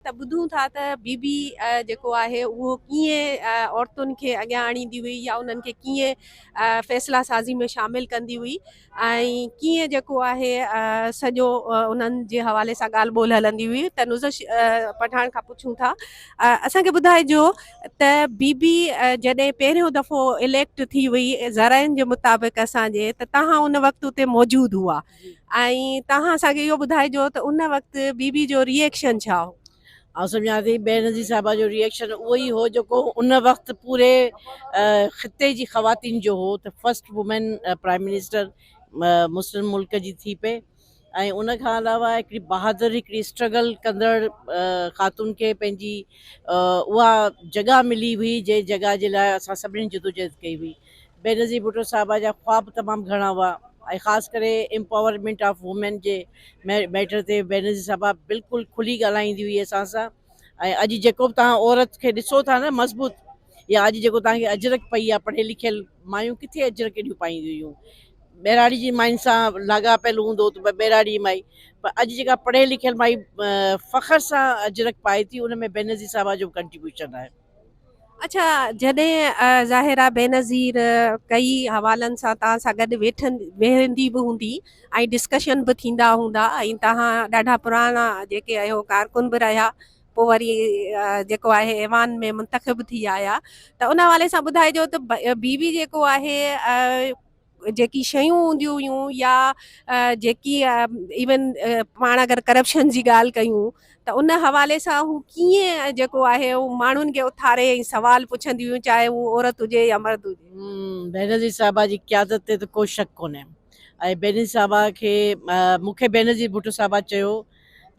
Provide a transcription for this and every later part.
ته ٻڌون ٿا ته بي بي جيڪو آهي اهو ڪيئن عورتن کي اڳيان آڻيندي هئي يا انهن کي ڪيئن فيصلا سازي ۾ شامل ڪندي هئي ۽ ڪيئن جيڪو آهي سڄو انهن جي حوالي سان ڳالهه ٻولهه هلندي هئي ته نوزش پٺاڻ کان پڇون ٿا اسان کي ٻڌائجو ته بي بي جڏهن پهريون دفعو اليڪٽ ٿي هئي ذرائعن جي مطابق اسان جي ته توهان ان وقت اتي موجود هئا ۽ توهان اسان کي اهو ٻڌائجو ته ان وقت بيبي جو ريئڪشن ڇا هو؟ آئون سمجهان ٿي بينظير صاحبه جو ريئڪشن اهو ئي هو جيڪو ان وقت پوري خطي جي خواتين جو هو ته فرسٽ وومين پرائم منسٽر مسلم ملڪ جي ٿي پئي ۽ ان کان علاوه هڪڙي بهادر هڪڙي اسٽرگل ڪندڙ خاتون کي پنهنجي اها جڳهه ملي هئي جنهن جڳهه جي لاء اسان سڀني جدوجهد ڪئي هئي بينظير ڀٽو صاحبه جا خواب تمام گهڻا هئا ۽ خاص ڪري امپاورمينٽ آف وومين جي ميٽر تي بينظير صاحبه بلڪل کلي ڳالهائيندي هئي اسان سان ۽ اڄ جيڪو به تهان عورت کي ڏسو ٿا نه مضبوط يا اڄ جيڪو تهان کي اجرڪ پئي آ پڙهيل لکيل مايون ڪٿي اجرڪ ايڏيون پائينديون هيون ٻهراڙي جي ماين سان لاڳاپيل هوندو ته ٻهراڙي مائي پر اڄ جيڪا پڙهيل لکيل مائي فخر سان اجرڪ پائي ٿي ان ۾ بينظير صاحبه جو ڪنٽريبيوشن آهي اڇا جڏهن ظاهرا بينظير ڪئي حوالن سان توهان سان گڏ ويٺن ويهندي به هوندي ۽ ڊسڪشن به ٿيندا هوندا ۽ توهان ڏاڍا پراڻا جيڪي اهو ڪارڪن به رهيا پوء وري جيڪو آهي ايوان ۾ منتخب ٿي آيا ته ان حوالي سان ٻڌائجو ته بي بي جيڪو آهي جيڪي شيون هونديون هيون يا جيڪي ايون پاڻ اگر ڪرپشن جي ڳالهه ڪيون ته ان حوالي سان هو ڪيئن جيڪو آهي هو ماڻهن کي اٿاري ۽ سوال پڇنديون هيون چاهي هو عورت هجي يا مرد هجي. بينظير صاحبه جي قيادت تي ته ڪو شڪ ڪونهي ۽ بينظير صاحبه کي مون کي بينظير ڀٽو صاحبه چيو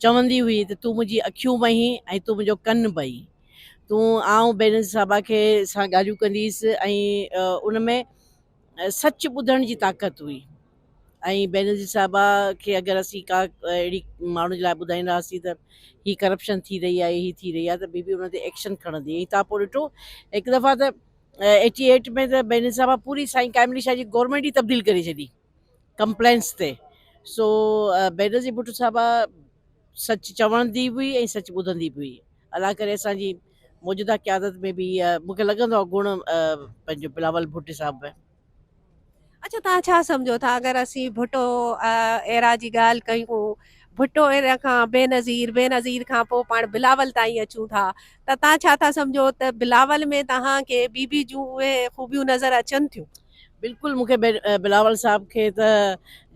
چوندي هئي ته تون منهنجي اکيون به آهين ۽ تون منهنجو ڪن به آهين تون آئون بينظير صاحبه کي سان ڳالهيون ڪنديس ۽ ان ۾ سچ ٻڌڻ جي طاقت هئي ۽ بينظير صاحبه کي اگر اسين ڪا اهڙي ماڻهو جي لاء ٻڌائيندا هئاسين ته هي ڪرپشن ٿي رهي آهي هي ٿي رهي آهي ته بي بي ان تي ايڪشن کڻندي ۽ تان پوء ڏٺو هڪ دفعا ته ايٽي ايٽ ۾ ته بينظير صاحبه پوري سائين قائم علي شاهه جي گورنمينٽ ئي تبديل ڪري ڇڏي ڪمپلينس تي سو بينظير ڀٽو صاحبه سچ چوندي به هئي ۽ سچ ٻڌندي به هئي الله ڪري اسان جي موجوده قيادت ۾ به اها مون کي لڳندو آهي گڻ پنهنجو بلاول ڀٽي صاحب ۾ اچا تان ڇا سمجھو ٿا اگر اسين ڀٽو ايرا جي ڳالھ ڪيون ڀٽو ايرا کان بي نظير بي نظير کان پو پاڻ بلاول تائين اچون ٿا ته تان ڇا ٿا سمجھو ته بلاول ۾ تهان کي بي بي جون اهي خوبيون نظر اچن ٿيون بلڪل مون کي بلاول صاحب کي ته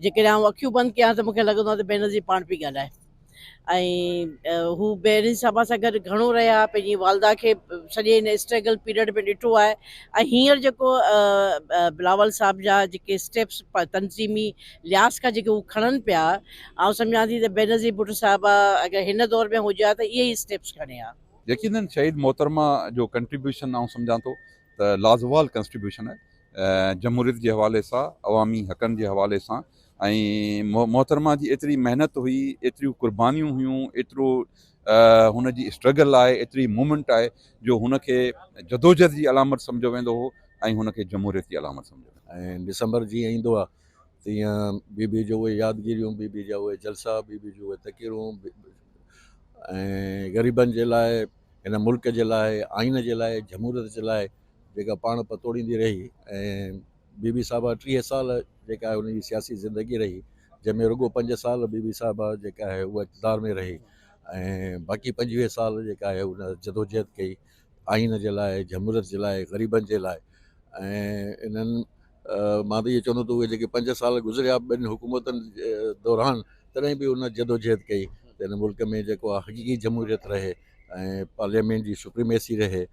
جيڪڏهن آئون اکيون بند ڪيان ته مون کي لڳندو آهي ته بي نظير پاڻ پي ڳالهائي ۽ هو بينظير صاحبه سان گڏ گهڻو رهيا پنهنجي والده کي سڄي هن اسٽرگل پيريڊ ۾ ڏٺو آهي ۽ هينئر جيڪو بلاول صاحب جا جيڪي اسٽيپس تنظيمي لحاظ کان جيڪي هو کڻن پيا آئون سمجهان ٿي ته بينظير ڀٽو صاحبه اگر هن دور ۾ هجي ها ته اهي ئي اسٽيپس کڻي ها. يقينن شهيد محترمه جو ڪنٽريبيوشن آئون سمجهان ٿو ته لازوال ڪنسٽريبيوشن آهي جمهوريت جي حوالي سان عوامي حقن جي حوالي سان ۽ محترمه جي ايتري محنت هئي، ايتريون قربانيون هيون، ايترو هن جي اسٽرگل آهي، ايتري موومينٽ آهي جو هن کي جدوجهد جي علامت سمجهيو ويندو هو ۽ هن کي جمهوريت جي علامت سمجهيو ويندو هو. ۽ ڊسمبر جيئن ايندو آهي تيئن بيبي جو اهي يادگيريون، بيبي جا اهي جلسا، بيبي جون اهي تقريرون ۽ غريبن جي لاء، هن ملڪ جي لاء، آئين جي لاء، جمهوريت جي لاء جيڪا پاڻ پتوڙيندي رهي ۽ بي بي صاحبه ٽيهه سال جيڪا آهي ان جي سياسي زندگي رهي جنهن ۾ رڳو پنج سال بي بي صاحبه جيڪا آهي اها اقتدار ۾ رهي ۽ باقي پنجويهه سال جيڪا آهي ان جدوجهد ڪئي آئين جي لاء جمهوريت جي لاء غريبن جي لاء ۽ انهن مان ته اهو چوندو ته اهي جيڪي پنج سال گذريا ٻن حڪومتن دوران تڏهن به ان جدوجهد ڪئي ته هن ملڪ ۾ جيڪو آهي حقيقي جمهوريت رهي ۽ پارليامينٽ جي سپريميسي رهي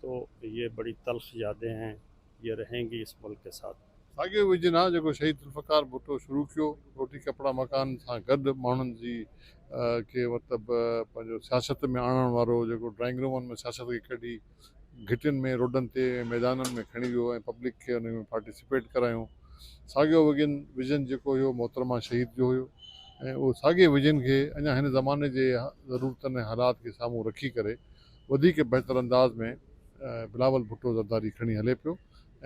تو يي بڙي تلخ يادين هين يي رهين گي اس ملڪ ڪي ساٿ. ساڳيو ويزن آهي جيڪو شهيد ذوالفقار ڀٽو شروع ڪيو، روٽي ڪپڙا مڪان سان گڏ ماڻهن جي کي مطلب پنهنجو سياست ۾ آڻڻ وارو جيڪو ڊرائنگ رومن ۾ سياست کي ڪڍي گهٽين ۾ روڊن تي ۽ ميدانن ۾ کڻي ويو ۽ پبلڪ کي انهي ۾ پارٽيسپيٽ ڪرايو ساڳيو وگن ويزن جيڪو هيو محترمه شهيد جو هيو ۽ اهو ساڳي ويزن کي اڃا هن زماني جي ضرورتن ۽ حالات کي سامهون رکي ڪري وڌيڪ بهتر انداز ۾ بلاول ڀٽو زرداري کڻي هلي پيو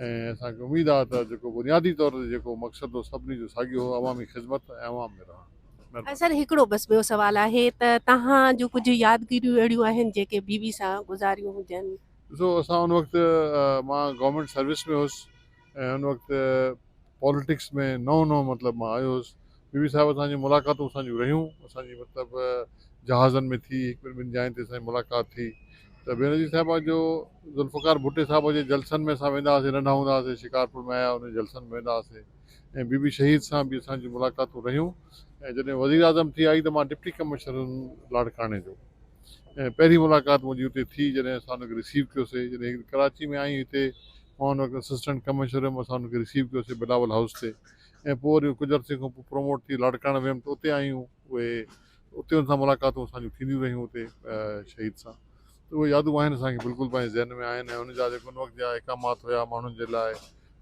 ۽ اسان کي اميد آهي ته جيڪو بنيادي طور تي جيڪو مقصد هو سڀني جو ساڳيو هو عوامي خدمت ۽ عوام ۾ رهڻ. مهرباني. سر هڪڙو بس ٻيو سوال آهي ته توهان جون ڪجهه يادگيريون اهڙيون آهن جيڪي بي بي سان گذاريون هجن. ڏسو اسان ان وقت مان گورنمينٽ سروس ۾ هوس. ۽ ان وقت پاليٽڪس ۾ نئون نئون مطلب مان آيو هيس بي بي صاحب اسان جون ملاقاتون اسان جون رهيون اسان جي مطلب جهازن ۾ ٿي هڪ ٻن جاين تي اسان جي ملاقات ٿي ته بينظير صاحبه جو ذوالفقار ڀٽي صاحب جي جلسن ۾ اسان ويندا هئاسين ننڍا هوندا هئاسين شڪارپور ۾ آيا ان جلسن ۾ ويندا هئاسين ۽ بي بي شهيد سان به اسان جون ملاقاتون رهيون ۽ جڏهن وزير اعظم ٿي آئي ته مان ڊپٽي ڪمشنر هيم لاڙڪاڻي جو ۽ پهرين ملاقات منهنجي اتي ٿي جڏهن اسان ان کي رسيو ڪيوسين جڏهن ڪراچي ۾ آئي هتي مان ان وقت اسسٽنٽ ڪمشنر هيم اسان ان کي رسيو ڪيو سي بلاول هائوس تي ۽ پوء وري ڪجهه عرصي کان پوء پروموٽ ٿي لاڙڪاڻي ويم ته اتي آيون اهي اتي ان سان ملاقاتون اسان جون ٿينديون رهيون اتي شهيد سان ته اهي يادون آهن اسان کي بلڪل پنهنجي ذهن ۾ آهن ۽ ان جا جيڪو ان وقت جا اقامات هيا ماڻهن جي لاء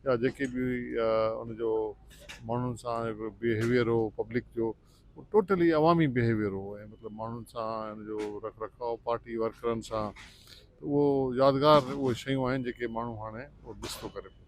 يا جيڪي به ان جو ماڻهن سان بيهيويئر هو پبلڪ جو اهو ٽوٽلي عوامي بيهيويئر هو ۽ مطلب ماڻهن سان ۽ ان جو رک رکاء پارٽي ورڪرن سان ته اهو يادگار اهي شيون آهن جيڪي ماڻهو هاڻي اهو مس ٿو ڪري پيو.